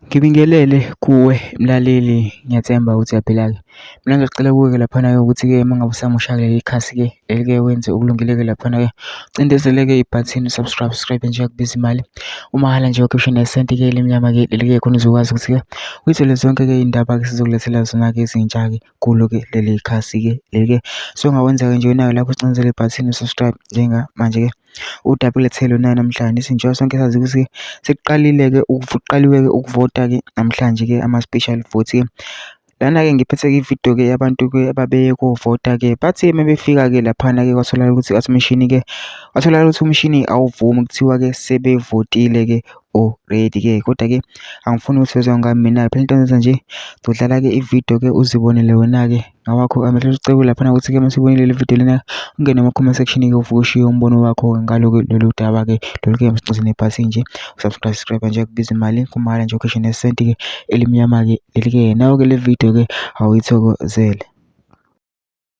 Ngibingelele kuwe mlaleli ngiyathemba ukuthi uyaphila-ke. Mina ngicela kuwe-ke laphana-ke ukuthi-ke uma ngabe usamusha kuleli ikhasi-ke leli-ke wenze okulungile-ke laphana-ke ucindezele-ke ibhathini u-subscribe, u-subscribe-e nje akubizi imali umahhala nje ukhiphe isho nesenti-ke elimnyama-ke leli-ke khona uzokwazi ukuthi-ke uyithole zonke-ke iy'ndaba-ke esizokulethela zona-ke ezintsha-ke. kulo-ke leli khasi-ke leli-ke. So, ongakwenza-ke nje nayo lapho ucinezele ibhathini subscribe njengamanje-ke udabule thelo nayo namhlanje sinjengoba sonke sazi ukuthi sekuqalile-ke kuqaliwe-ke ukuvota-ke namhlanje-ke ama-special vote-ke lana-ke ngiphethe-ke ividiyo-ke yabantu-ke ababeye kovota-ke bathi uma befika-ke laphana-ke kwatholakala ukuthi athi umshini-ke kwatholakala ukuthi umshini awuvumi kuthiwa-ke sebevotile-ke already ke kodwa ke angifuni ukuthi uzwe ngami mina phela into enza nje zodlala ke ividiyo ke uzibonele wena ke ngawakho amehlo sicebo lapha ukuthi ke masibonile le video lena ungene ema comment section ke uvuke ushiye umbono wakho ngalo ke lolu daba ke lolu ke msixoze nebhasi nje usubscribe nje kubiza imali kumala nje ukeshe nesenti ke elimnyama ke leli ke nawo ke le video ke awuyithokozele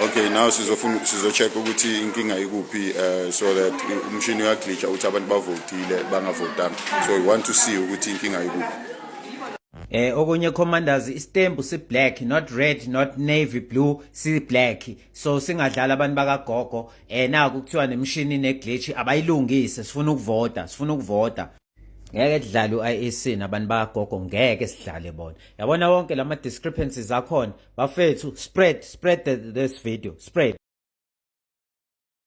Okay, now sizofuna sizocheck ukuthi inkinga ikuphi uh, so that umshini uyaglitsha ukuthi abantu bavotile bangavotanga. So we want to see ukuthi inkinga ikuphi. Eh okunye commanders istembu si black not red not navy blue si black so singadlala abantu bakagogo eh naku kuthiwa nemshini ne glitch abayilungise sifuna ukuvota sifuna ukuvota ngeke kudlale u-IEC nabantu bakagogo ngeke sidlale bona yabona wonke lama discrepancies akhona bafethu spread spread the, this video spread